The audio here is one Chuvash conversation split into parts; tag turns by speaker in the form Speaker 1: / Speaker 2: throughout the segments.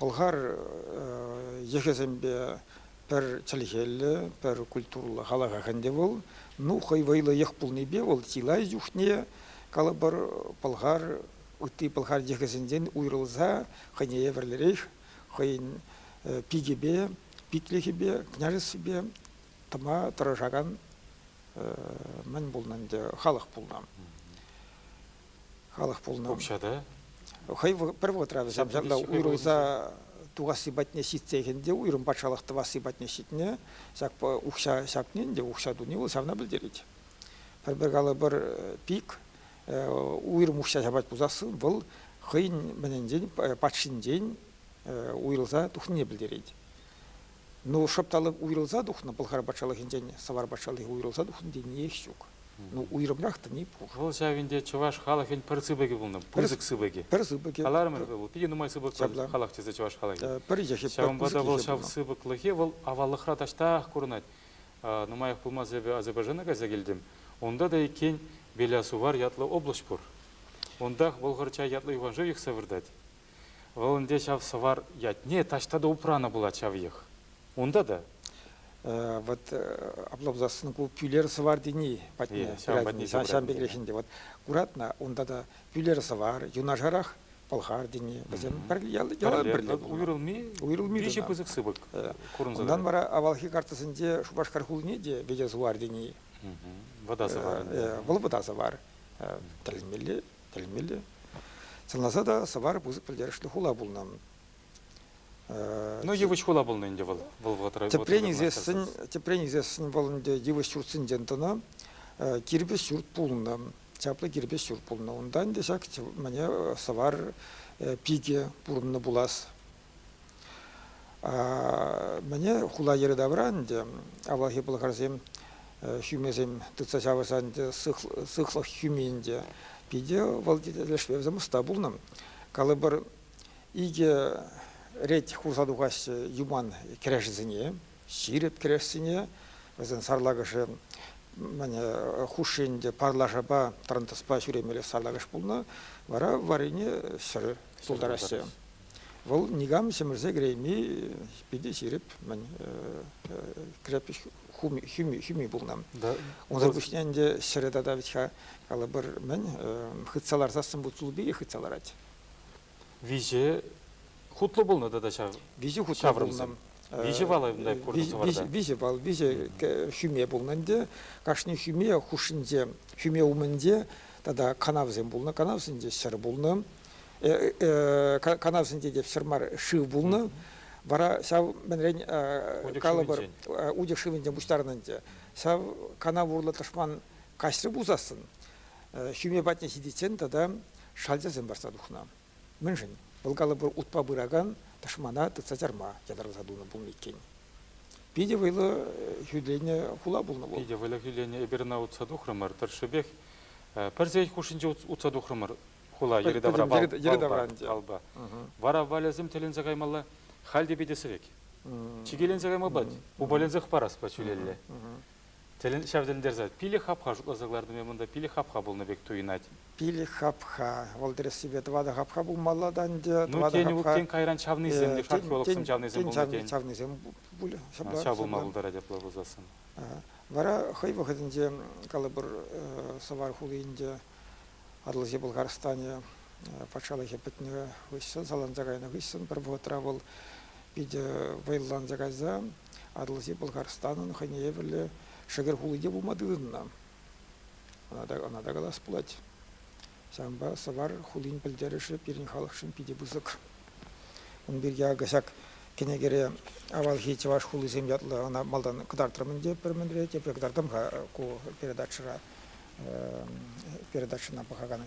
Speaker 1: Пӑлхар йӑхӗсемпе пӗр чӗлхеллӗ, пӗр культурӑллӑ халӑхах ӗнтӗ вӑл. Ну, хӑй вӑйлӑ йӑх пулнипе вӑл чылай чухне, калӑпӑр, пӑлхар, ытти пӑлхар йӑхӗсенчен уйрӑлса хӑйне евӗрлӗрех хӑйӗн пикӗпе, питлӗхӗпе, княжествипе тӑма тӑрӑшакан мӗн пулнӑ ӗнтӗ халӑх пулнӑ. Халӑх пулнӑ. Укҫа та?
Speaker 2: Хӑй
Speaker 1: пӗр вӑхӑтра вӗсем ҫавна уйрӑлса тухасси патне ҫитсех ӗнтӗ уйрӑм патшалӑх тӑвасси патне ҫитнӗ. Ҫак укҫа ҫапни ӗнтӗ укҫа туни вӑл ҫавна пӗлтерет. Пӗр-пӗр калӑпӑр пик уйрӑм укҫа ҫапать пулсассӑн вӑл хӑйӗн мӗнӗнчен патшинчен уйрӑлса тухнине пӗлтерет. Ну, шӑпталӑк уйрӑлса тухнӑ Пӑлхар патшалӑхӗнчен Савар патшалӑхӗ уйрӑлса тухнӑ тениех ҫук. Ну, уйрӑмрах тени пур. Вӑл ҫав ӗнтӗ чӑваш
Speaker 2: халӑхӗн пӗр сыпӑкӗ пулнӑ, пысӑк сыпӑкӗ. Пӗр сыпӑкӗ. Каларӑмӑр
Speaker 1: вӗт вӑл, питӗ нумай
Speaker 2: сыпӑк халӑх тесе чӑваш халӑхӗ. Пӗр йӑхӗ. Ҫавӑнпа та
Speaker 1: вӑл ҫав
Speaker 2: сыпӑклӑхе вӑл аваллӑхра таҫтах курӑнать. Нумаях пулмасть эпӗ Азербайджана кайса килтӗм. Унта та иккен Белясувар ятлӑ облаҫ пур. Унтах Вӑлхӑрчай ятлӑ юханшыв йӑхса выртать. Вӑл ӗнтӗ ҫав сӑвар ятне таҫта та упранӑ пулать ҫав йӑх. Унта та.
Speaker 1: Вот апла пулсассӑн ку пӳлер сӑвар тени патне пырать. Ҫавӑн пекрех ӗнтӗ. Вот куратна, унта та пӳлер сӑвар юнашарах пӑлхар тени вӗсем пӗрле уйрӑлми уйрӑлми питӗ пысӑк сыпӑк
Speaker 2: курӑнса вара
Speaker 1: авалхи картасенче Шупашкар хулине те вӗте сувар тени вӑта
Speaker 2: сӑвар вӑл вӑта сӑвар
Speaker 1: тӗлӗнмелле Пӗлмелле. Сӑнласа та сӑвар пысӑк пӗлтерӗшлӗ хула пулнӑ.
Speaker 2: Ну, йывӑҫ хула пулнӑ ӗнтӗ вӑл. Вӑл вӑхӑтра тӗпрен ӳсессӗн,
Speaker 1: тӗпрен ӳсессӗн вӑл ӗнтӗ йывӑҫ ҫуртсенчен тӑнӑ кирпӗч ҫурт пулнӑ. Чаплӑ кирпӗч ҫурт пулнӑ. Унта ӗнтӗ ҫак мӗне сӑвар пике пурӑннӑ пулас. Мӗне хула йӗри тавра ӗнтӗ авалхи пӑлхарсем ҫӳмесем тытса ҫавӑрса ӗнтӗ сыхлӑх ҫӳми ӗнтӗ. Питӗ вӑл тӗлӗшпе вӗсем ӑста пулнӑ. Калӑпӑр икӗ рет хурса тухаҫҫӗ юман кӗрешӗсене, ҫирӗп кӗрешсене. Вӗсен сарлакӑшӗ хушши ӗнтӗ парлашапа тӑрантаспа ҫӳремелли сарлакӑш пулнӑ. Вара варрине ҫӗр тултараҫҫӗ. Вӑл никам ҫӗмӗрсе кӗрейми питӗ ҫирӗп-мӗн крепость хӳми пулнӑ. Унсӑр пуҫне ӗнтӗ ҫӗрӗ тата вӗт-ха калӑпӑр мӗн хытса ларсассӑн вут сулпи хытса ларать. Виҫе
Speaker 2: хутлӑ пулнӑ тата ҫав. Виҫе хутлӑ пулнӑ.
Speaker 1: Виҫӗ вал унта
Speaker 2: куртӑм вӑрӑта. Виҫӗ вал, виҫӗ
Speaker 1: хӳме пулнӑ ӗнтӗ. Кашни хӳме хушшинче, хӳме умӗнче тата канавсем пулнӑ. Канавсенче ҫӗр пулнӑ. канавсенче те все мар шыв пулнӑ. Вара ҫав мӗнрен калӑпӑр утек шывӗнчен пуҫтарнӑ ӗнтӗ. Ҫав канав урлӑ тӑшман каҫрӗ пулсассӑн ҫӳме патне ҫитиччен тата шальчасем парса тухнӑ. Мӗншӗн? Вӑл калӑпӑр утпа пыракан тӑшмана тытса чарма ятарласа тунӑ пулнӑ иккен. Питӗ вӑйлӑ хӳтлене хула пулнӑ вӑл. Питӗ вӑйлӑ хӳтлене эпир ӑна
Speaker 2: утса тухрӑмӑр тӑршшӗпех. Пӗр сехет хушшинче утса тухрӑмӑр. хула йӗри-тавра балпа. Вара валӗсем тӗленсе каймалла, халь те питӗ сӗвек. Чикеленсе кайма пулать, упаленсех параспа ҫӳлелле. Тӗлен ҫав тӗлӗнтерсе пилӗк хапха шутласа кӑлартнӑ пек монда пилӗк хапха пулнӑ пек туйӑнать. Пилӗк хапха.
Speaker 1: Вӑл тӗрӗссипе тӑватӑ хапха пулмалла та ӗнтӗ. Ну тен, тен кайран
Speaker 2: чавнисем те, шапшулӑхсем чавнисем пулнӑ тен. чавнисем пулӗ.
Speaker 1: Ҫав пулма пултарать
Speaker 2: апла пулсассӑн. Вара
Speaker 1: хӑй вӑхӑтӗнче калӑпӑр Сӑвар хулинче Атӑлҫи Пӑлхарстанӗ патшалӑхӗ пӗтнӗ хыҫҫӑн, саланса кайнӑ хыҫҫӑн пӗр вӑхӑтра вӑл питӗ вӑйланса кайса Атӑлҫи Пӑлхарстанӑн хӑйне евӗрлӗ шӗкӗр хули те пулма тытӑннӑ. Ӑна та калас пулать. Ҫавӑнпа Сӑвар хулин пӗлтерӗшӗ пирӗн халӑхшӑн питӗ пысӑк. Ун пирки акӑ ҫак кӗнекере авалхи чӑваш хулисем ятлӑ ӑна малтан кӑтартрӑм ӗнтӗ пӗр мӗнре, тепре кӑтартам-ха ку передачӑра. передачӑна пӑхакан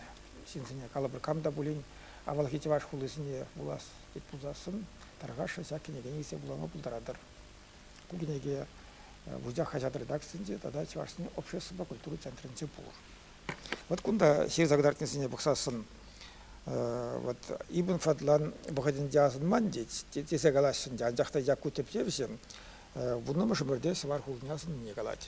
Speaker 1: ҫынсене, калӑпӑр, кам та пулин авалхи чӑваш хулисене вулас тет пулсассӑн, тархасшӑн ҫак кӗнеке илсе вулама пултаратӑр. Ку кӗнеке Вучах хаҫат редакцийӗнче тата Чӑвашсен обществӑпа культура центрӗнче пур. Вот кунта ҫырса кӑтартнисене пӑхсассӑн, вот ибн Фадлан вӑхӑтӗнче асӑнман тесе калаҫҫӗ ӗнтӗ, анчах та Якку тӗпчевҫӗ вуннӑмӗш ӗмӗрте Сӑвар хулине асӑннине калать.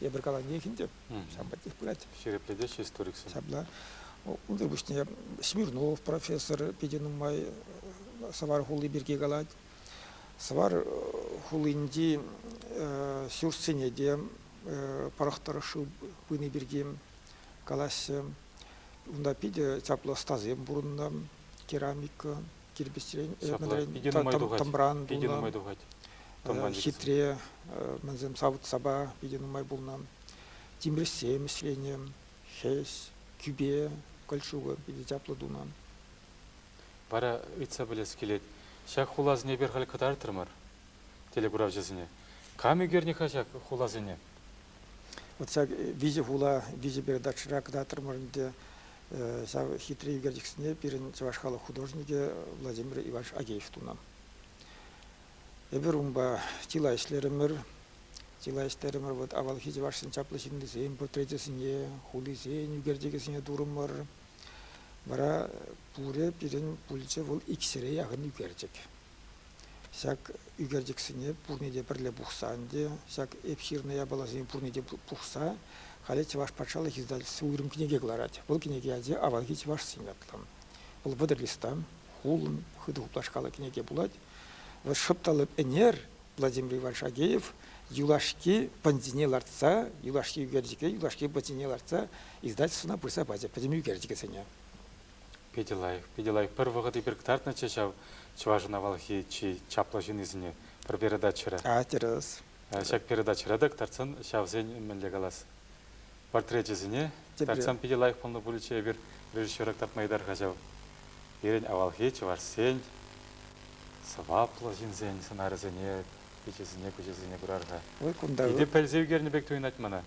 Speaker 1: Эпир каланех ӗнтӗ, ҫавӑн пекех пырать. Ҫирӗплетеҫҫӗ историксем.
Speaker 2: Ҫапла.
Speaker 1: Унсӑр пуҫне Смирнов профессор питӗ нумай Сӑвар хули пирки калать. Сӑвар хулинчи ҫуртсене те пӑрӑх тӑрӑшши пыни пирки калаҫҫӗ. Унта питӗ чаплӑ ӑстасем пурӑннӑ, керамика, кирпӗчрен, тӑмран пулнӑ. Хитре мансем савӑт-сапа питӗ нумай пулнӑ. Тимӗрҫсем ӗҫленӗ. Хӗс, кӳпе, кольчуга питӗ чаплӑ тунӑ.
Speaker 2: Вара ыйтса пӗлес килет, ҫак хуласене эпир халь кӑтартрӑмӑр телекуравҫӑсене. Кам ӳкернӗ-ха ҫак хуласене?
Speaker 1: Вот ҫак виҫӗ хула, виҫӗ передачӑра кӑтартрӑмӑр ӗнтӗ. Ҫав хитре ӳкерчӗксене пирӗн чӑваш халӑх художникӗ Владимир Иванович Агеев тунӑ. Эпир унпа чылай ӗҫлерӗмӗр. Чылай ӗҫлерӗмӗр. Вот авалхи чӑвашсен чаплӑ ҫыннисен портречӗсене, хулисен ӳкерчӗкӗсене турӑмӑр. Вара пурӗ пирӗн пулчӗ вӑл икҫӗре яхӑн ӳкерчӗк. Ҫак ӳкерчӗксене пурне те пӗрле пухса ӗнтӗ, ҫак эп ҫырнӑ япаласене пурне те пухса халӗ Чӑваш патшалӑх издательстви уйрӑм кӗнеке кӑларать. Вӑл кӗнеке ячӗ «Авалхи чӑвашсен» ятлӑ. Вӑл вӑтӑр листа, хулӑн, хытӑ хуплашкаллӑ кӗнеке пулать. Вӑл шӑпталӑп ӗнер Владимир Иванович Агеев юлашки пӑнтине лартса, юлашки ӳкерчӗке юлашки пӑнтине лартса издательствӑна пырса пачӗ пӗтӗм ӳкерчӗкӗсене. Питӗ
Speaker 2: лайӑх, питӗ лайӑх. Пӗр вӑхӑт эпир кӑтартнӑччӗ ҫав чӑвашӑн авалхи чи чаплӑ ҫыннисене пӗр передачӑра. А, тӗрӗс.
Speaker 1: Ҫак передачӑра
Speaker 2: та кӑтартсан ҫавсен мӗнле калас портречӗсене кӑтартсан питӗ лайӑх пулнӑ пулӗччӗ эпир режиссера кӑтартма йытар-ха ҫав. Пирӗн авалхи чӑвашсен сӑваплӑ ҫынсен сӑнарӗсене, пичӗсене, куҫӗсене курар-ха. Ой, кунта... Питӗ пӗлсе ӳкернӗ пек туйӑнать мана.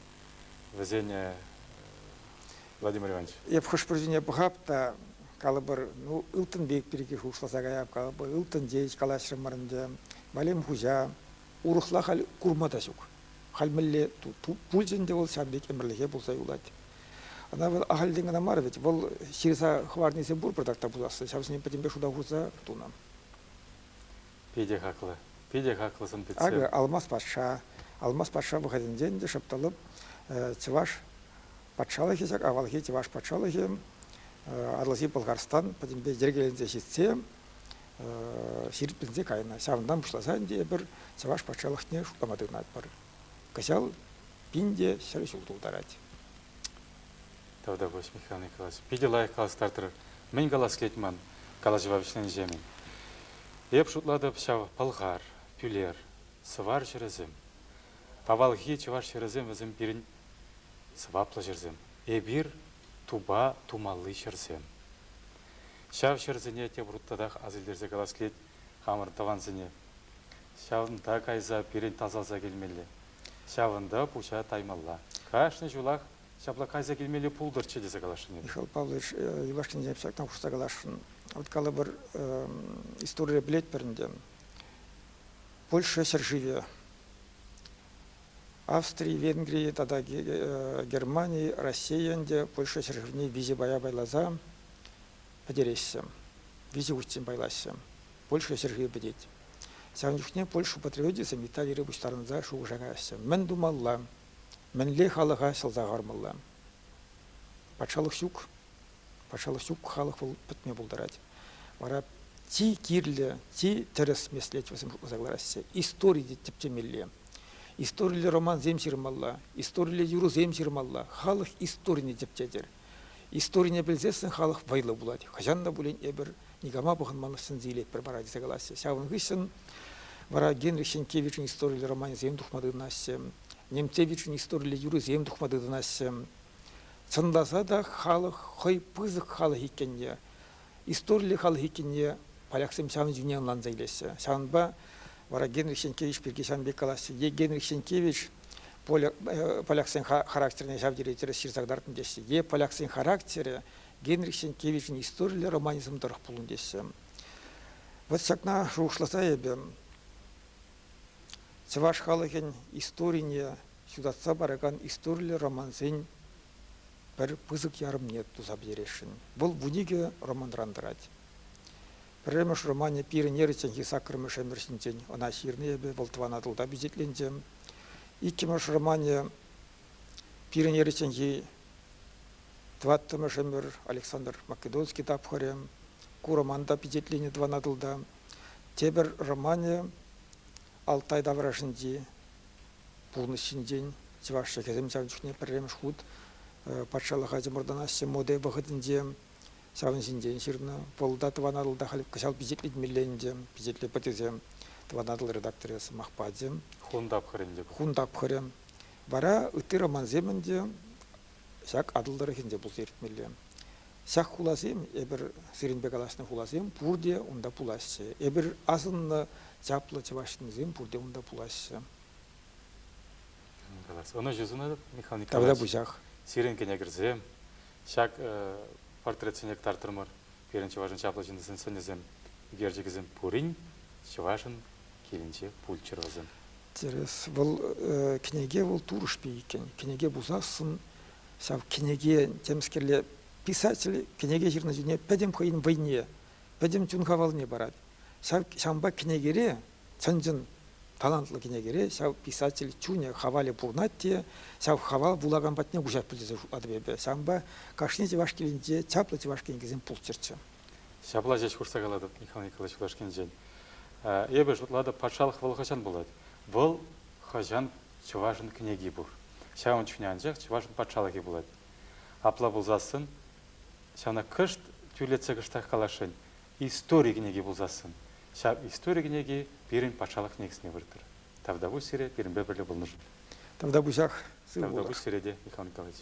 Speaker 2: вӗсене Владимир Иванович. Эп хӑш-пӗр ҫине пӑхап
Speaker 1: та калӑпӑр, ну, ылтӑн пек пирки шухӑшласа каяп, калӑпӑр, ылтӑн тейӗч калаҫрӑмӑр ӗнтӗ, Валем хуҫа, урӑхла халь курма та ҫук. Халь мӗнле пулчӗ ӗнтӗ вӑл ҫавӑн пек ӗмӗрлӗхе пулса юлать. Ӑна вӑл ахальтен кӑна мар вӗт, вӑл ҫырса хӑварнисем пур пӑртак та пуласси, ҫавсене пӗтӗмпе шута хурса тунӑ.
Speaker 2: Питӗ хаклӑ. Питӗ хаклӑ сӑн-питсем. Акӑ, Алмас патша.
Speaker 1: Алмас патша вӑхӑтӗнче ӗнтӗ шӑптӑлӑп чӑваш патшалӑхӗ ҫак авалхи чӑваш патшалӑхӗ Атӑлҫи Пӑлхарстан пӗтӗмпе йӗркеленсе ҫитсе ҫирӗпленсе кайнӑ. Ҫавӑнтан пуҫласа ӗнтӗ эпир чӑваш патшалӑхне шутлама тытӑнатпӑр. Кӑҫал пин те ҫӗр ҫул тултарать.
Speaker 2: Тавтапуҫ, Михаил Николаевич. Питӗ лайӑх калас тартӑр. Мӗн калас килет ман калаҫӑва вӗҫленӗҫемӗн? Эп шутлатӑп ҫав пӑлхар, пӳлер, сӑвар ҫӗрӗсем. Авалхи чӑваш ҫӗрӗсем вӗсем пирӗн сӑваплӑ ҫӗрсем. Эпир тупа тумалли ҫӗрсем. Ҫав ҫӗрсене тепӗр хут татах асилтерсе калас килет. хамӑр тӑвансене. Ҫавӑнта кайса пирӗн тасалса килмелле, ҫавӑнта пуҫа таймалла. Кашни ҫулах ҫапла кайса килмелли пултӑрччӗ тесе каласшӑн эпӗ. Михаил Павлович,
Speaker 1: юлашкинчен ҫакна хушса каласшӑн. Вот калӑпӑр, историе пӗлетпӗр ӗнтӗ. Польша ҫӗршывӗ, Австри, Венгри тата Германи, Раҫҫей ӗнтӗ Польша ҫӗршывне виҫе пая пайласа пӗтереҫҫӗ. Виҫӗ хутчен пайлаҫҫӗ. Польша ҫӗршывӗ пӗтет. Ҫавӑн чухне Польша патриотӗсем Италире пуҫтарӑнса шухӑша каяҫҫӗ. Мӗн тумалла? Мӗнле халӑха ҫӑлса хӑвармалла? Патшалӑх ҫук. Патшалӑх ҫук, халӑх вӑл пӗтме пултарать. Вара чи кирлӗ, чи тӗрӗс меслет вӗсем шутласа кӑлараҫҫӗ. Истори те тӗпчемелле. Историлле романсем ҫырмалла, историлле юрӑсем ҫырмалла. Халӑх историне тӗпчетӗр. Историне пӗлсессӗн халӑх вӑйлӑ пулать. Хӑҫан та пулин эпир никама пӑхӑнман сӗнсе илетпӗр пара тесе калаҫҫӗ. Ҫавӑн хыҫҫӑн вара Генрих Ҫенкевичӑн историллӗ романӗсем тухма тытӑнаҫҫӗ, Немцевичӑн историллӗ юрӑсем тухма тытӑнаҫҫӗ. Чӑнласа та халӑх хӑй пысӑк халӑх иккенне, историллӗ халӑх иккенне поляксем ҫавӑн ҫине ӑнланса илеҫҫӗ. Ҫавӑнпа вара Генрих Ҫенкевич пирки ҫавӑн пек калаҫҫӗ. Е Генрих Ҫенкевич поляксен характерне ҫав тери тӗрӗс ҫырса кӑтартнӑ теҫҫӗ. Е поляксен характерӗ Генрих Сенкевичӑн историллӗ романизм тӑрӑх пулнӑ теҫҫӗ. Вот ҫакна шухӑшласа эпӗ чӑваш халӑхӗн историне ҫутатса паракан историллӗ романсен пӗр пысӑк ярӑмне туса пӗтересшӗн. Вӑл вун икӗ романран тӑрать. Пӗрремӗш романӗ пирӗн эрӗчченхи саккӑрмӗш ӗмӗр ҫинчен. Ӑна ҫырнӑ эпӗ, вӑл тӑван Атӑлта пичетленчӗ. Иккӗмӗш романӗ пирӗн эрӗчченхи тӑваттӑмӗш ӗмӗр Александр Македонский тапхӑрӗ. Ку роман та пичетленӗ тӑван Атӑлта. Тепӗр романӗ Алтай таврашӗнчи пурнӑҫ ҫинчен. Чӑваш чӗлхесем ҫав чухне пӗрремӗш хут патшалӑха чӑмӑртанаҫҫӗ моде вӑхӑтӗнче. Ҫавӑн ҫинчен ҫырнӑ. Полда Тӑван Атӑл та халь кӑҫал пичетлетмелле ӗнтӗ. Пичетлетпӗтӗсем Тӑван Атӑл редакторӗ сӑмах пачӗ. Хун тапхӑрӗ ӗнтӗ. Хун тапхӑрӗ. Вара ытти романсем ӗнтӗ ҫак Атӑл тӑрӑхӗнче пулса иртмелле. Ҫак хуласем, эпир сирӗнпе калаҫнӑ хуласем пурте унта пулаҫҫӗ. Эпир асӑннӑ чаплӑ чӑваш ҫыннисем пурте унта пулаҫҫӗ.
Speaker 2: Ӑнӑҫу сунатӑп, Михаил Николаевич. Тавра пучах.
Speaker 1: Сирӗн кӗнекӗрсем,
Speaker 2: Ҫак портретсене кӑтартрӑмӑр. Пирӗн чӑвашӑн чаплӑ ҫыннисен сӑнӗсем, ӳкерчӗкӗсем пурин чӑвашӑн килӗнче пулччӑр вӗсем. Тӗрӗс.
Speaker 1: Вӑл кӗнеке вӑл турӑшпи иккен. Кӗнеке пусассӑн ҫав кӗнеке темскерле писатель кӗнеке ҫырнӑ чухне пӗтӗм хӑйӗн вӑйне, пӗтӗм чун-хавалне парать. Ҫавӑнпа кӗнекере чӑн-чӑн талантлӑ кӗнекере ҫав писатель чунӗ, хавалӗ пурӑнать те ҫав хавал вулакан патне куҫа пӗлсе шутлатӑп эпӗ. Ҫавӑнпа кашни чӑваш килӗнче чаплӑ чӑваш кӗнекисем пулччӑрччӗ. Ҫапла ҫеҫ
Speaker 2: хушса калатӑп, Михаил Николаевич Кулашкинчен. Эпӗ шутлатӑп, патшалӑх вӑл хӑҫан пулать? Вӑл хӑҫан чӑвашӑн кӗнеки пур? Ҫавӑн чухне анчах чӑвашӑн патшалӑхӗ пулать. Апла пулсассӑн ҫавна кӑшт тӳрлетсе кӑштах каласшӑн, истори кӗнеки пулсассӑн ҫав истори кӗнеки пирӗн патшалӑх кӗнекисене вырттӑр. Тавтапуҫ сире пирӗнпе пӗрле пулнӑ. Тавтапуҫах сыв Тавтапуҫ сире
Speaker 1: те,
Speaker 2: Михаил Николаевич.